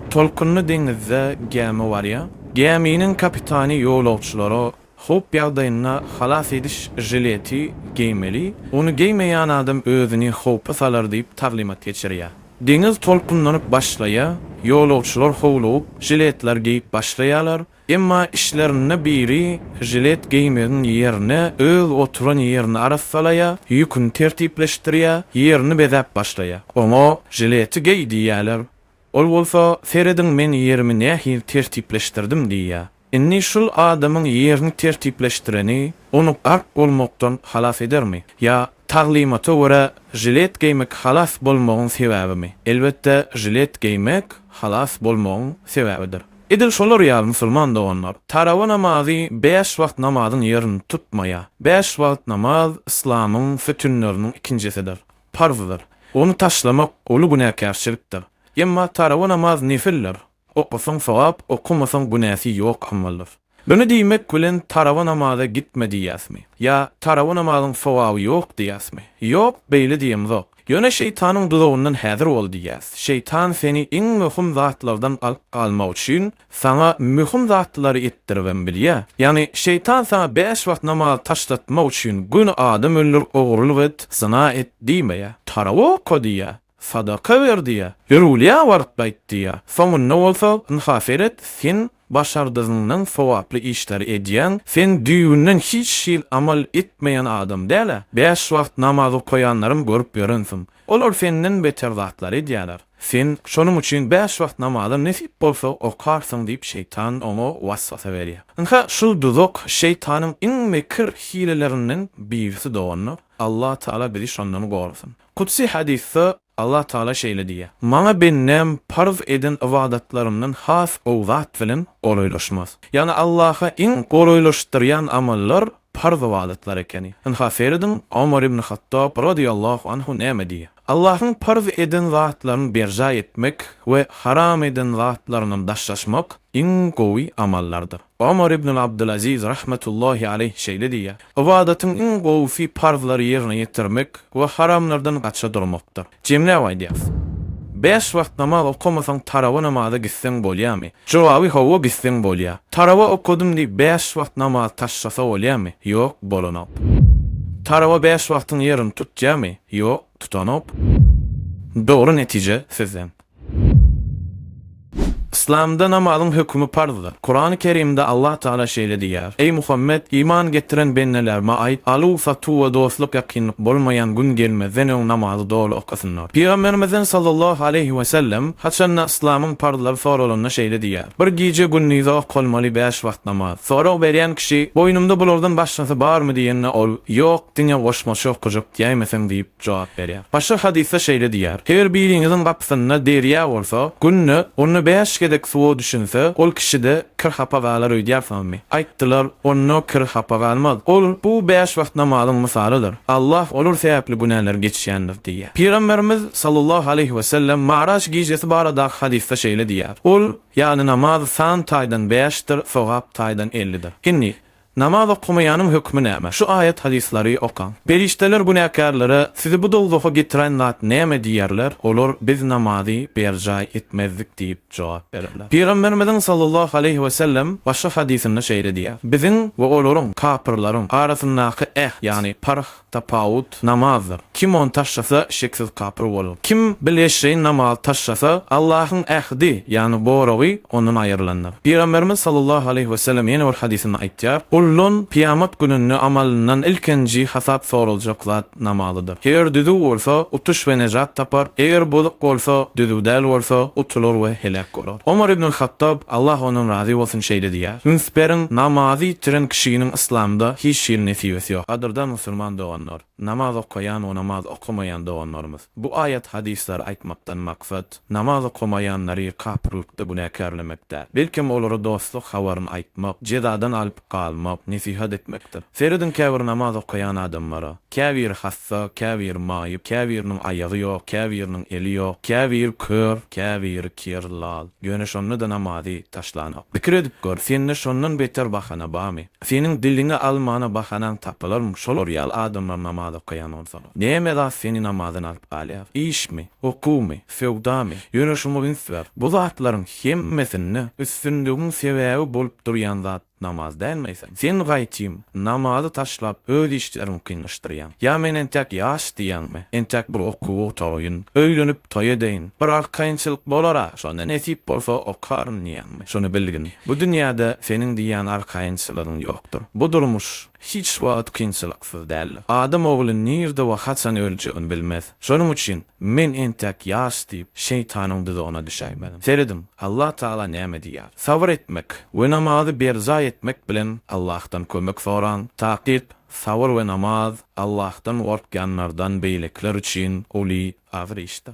Tolkunly deňizde gämi barýar. Gäminiň kapitany ýolagçylara howp ýagdaýynda halas ediş žileti geýmeli, ony geýmeýän adam özüni howpa salar diýip taglymat geçirýär. Deňiz tolkunlanyp başlaýar, ýolagçylar howlugyp, žiletler geýip başlaýarlar, Emma işlerinde biri žilet geýmegiň ýerine öz oturan ýerini arassalaýa, ýüküni tertipleşdirýä, ýerini bezäp başlaýa. Oňa Žileti geý diýýäler. Ol bolsa Serediň men ýerimi nähili tertipleşdirdim diýýä. Indi şul adamyň ýerini tertipleşdireni ony gark bolmakdan halas edermi? Ýa taglymata görä žilet geýmek halas bolmagyň sebäbimi? Elbetde žilet geýmek halas bolmagyň sebäbidir. Edil şolar ýaly musulman doganlar, tarawa namazy bäş wagt namazyň ýerini tutmaýar. Bäş wagt namaz yslamyň sütünleriniň ikinjisidir, parzdyr. Ony taşlamak uly günäkärçilikdir. Emma tarawa namaz nefildir. Okasaň sogap, okamasaň günäsi ýok amaldyr. Muny diýmek bilen tarawa namaza gitme diýýäsmi? Ýa tarawa namazyň sogaby ýok diýýäsmi? Ýok, beýle diýemzok. Ýöne şeýtanyň duzagyndan häzir bol diýýäs. Şeýtan seni iň möhüm zatlardan alyp galmak üçin saňa möhüm zatlary etdiribem bilýär. Ýagny şeýtan saňa bäş wagt namazy taşlatmak üçin göni adam öldür, ogurlyk et, zyna et diýmeýär. Tarap oka diýýär, sadaka ber diýýär, ýörgülýä baryp gaýt diýýär. Soňunda bolsa, ynha seret, sen Başardygyňdan sogaply işleri edýäň, sen düýbünden hiç hil amal etmeýän adam däl-ä, bäş wagt namaz okaýanlaram görüp ýörensiň, olar senden beter zatlary edýäler, sen şonuň üçin bäş wagt namazy nesip bolsa okarsyň diýip şeýtan oňa waswasa berýär. Ynha şu duzak şeýtanyň iň mekir hilelerinden birisi doganlar, Allatagala bizi şondan gorasyn. Kudsy hadysda Allah Taala şeýle diýýär, Maňa bendäm parz eden ybadatlarymdan has gowy zat bilen golaýlaşmaz. Ýagny Allaha iň golaýlaşdyrýan amallar parz ybadatlar ekeni. Ynha, serediň, Omar ibn Hattab, radiýallahu anhu, näme diýýär? Allahyň parz eden zatlaryny berjaý etmek we haram eden zatlaryndan daşlaşmak iň gowy amallardyr. Omar ibnul Abdylaziz rahmetullahi aleýh şeýle diýýär, Ybadatyň iň gowusy parzlary ýerine ýetirmek we haramlardan gaça durmakdyr. Jemläp aýdýas. Bäş wagt namaz okamasaň tarawa namaza gitseň bolýamy? Jogaby hawa gitseň bolýa. Tarawa okadym diýip bäş wagt namaz taşlasa bolýamy? Ýok bolanok. Tarawa bäş wagtyň ýerini tutýamy? Ýok tutanok. Dogry netije sizden. Yslamda namazyň hökümi parzdyr. Kurany Kerimde Allah Taala şeýle diýýär, Eý Muhammet, iman getiren bendelerime aýt, aluw, satuw we dostluk ýakynlyk bolmaýan gün gelmezden öň namazy doly okasynlar. Pygamberimizden sallallahu aleýhi we sellem haçanda yslamyň parzlary soralanda şeýle diýýär, Bir gije gündize okalmaly bäş wagt namaz. Sorag berýän kişi, Boýnumda bulardan başgasy barmy diýende ol, Ýok, diňe goşmaça okajak diýäýmeseň diýip, jogap berýär. Başga hadysda şeýle diýýär, Her biriňiziň gapysynda derýa bolsa, günde onda bäş gezek suwa düşünse, ol kişide kir-hapa galar öýdýärsiňizmi? Aýtdylar, Onda kir-hapa galmaz. Ol, Bu bäş wagt namazyň mysalydyr. Allah olar sebäpli günäleri geçýändir diýýär. Pygamberimiz, sallallahu aleýhi we sellem, Maraç gijesi baradaky hadysda şeýle diýýär, Ol ýaly namaz san taýdan bäşdir, sogap taýdan ellidir. Indi, Namaz okamaýanyň hökmi näme? Şu aýat hadyslary okaň. Perişdeler günäkärlere, Sizi bu dowzaha getiren zat näme diýerler, olar, Biz namazy berjaý etmezdik diýip jogap bererler. Pygamberimiziň sallallahu aleýhi we sellem başga hadysynda şeýle diýýär, Biziň we olaryň, kapyrlaryň, arasyndaky äht, ýagny parh, Tapawut namazdyr. Kim ony taşlasa, şeksiz kapyr bolar. Kim bil eşreýin namazy taşlasa, Allahyň ähdi, ýagny goragy, ondan aýrylandyr. Pygamberimiz sallallahu aleýhi wesellem ýene bir hadysynda aýtýar, Guldan kyýamat gününde amalyndan ilkinji hasap soraljak zat namazydyr. Eger düzüw bolsa, utuş we nejat tapar, eger bozuk bolsa, düzüw däl bolsa, utular we heläk bolar. Omar ibnul Hattab, Allah ondan razy bolsun, şeýle diýýär, Üns beriň, namazy ýitiren kişiniň Yslamda hiç hili nesibesi ýok. Gadyrdan musulman doganlar, namaz okaýan we namaz okamaýan doganlarymyz! Bu aýat hadyslary aýtmakdan maksat, namaz okamaýanlary kapyrlykda günäkärlemek däl. Belkem olara dostluk habaryny aýtmak, jezadan alyp galmak, nesihat etmekdir. Serediň käbir namaz okaýan adamlara. Käbiri hassa, käbiri maýyp, käbiriniň aýagy ýok, käbiriniň eli ýok, käbiri kör, käbiri kir, lal. Ýöne şonda-da namazy taşlanok. Pikir edip gör, sende şondan beter bahana barmy? Seniň diliňe almana bahanaň tapylarmy, şolar ýaly adamlar namaz okaýan bolsalar? Näme zat seni namazdan alyp galýar? Işmi? Okuwmy? Söwdamy? Ýöne şuňa üns ber, bu zatlaryň hemmesinde üstünligiň sebäbi bolup durýan zat, Namaz dälmi eýsem? Sen gaýtym, namazy taşlap, öz işleriňi kynlaşdyrýaň. Ýa men entäk ýaş diýýäňmi? Entäk bir okuw otaýyn, öýlenip toý edeýin. Bir arkaýynçylyk bolar-a, şonda nesip bolsa okaryn diýýäňmi? Şuny bilgin, bu dünýäde seniň diýýän arkaýynçylygyň ýokdur. Bu durmuş, hiç wagt kynçylyksyz däl. Adam ogly nirde we haçan öljegini bilmez. Şonuň üçin, Men entäk ýaş diýip, şeýtanyň duzagyna düşäýmeliň. Serediň, Allah Tagala näme diýýär. Sabyr etmek we namazy berjaý etmek bilen Allahdan kömek soraň. Takyk, sabyr we namaz Allahdan gorkýanlardan beýlekiler üçin uly azyr işdir.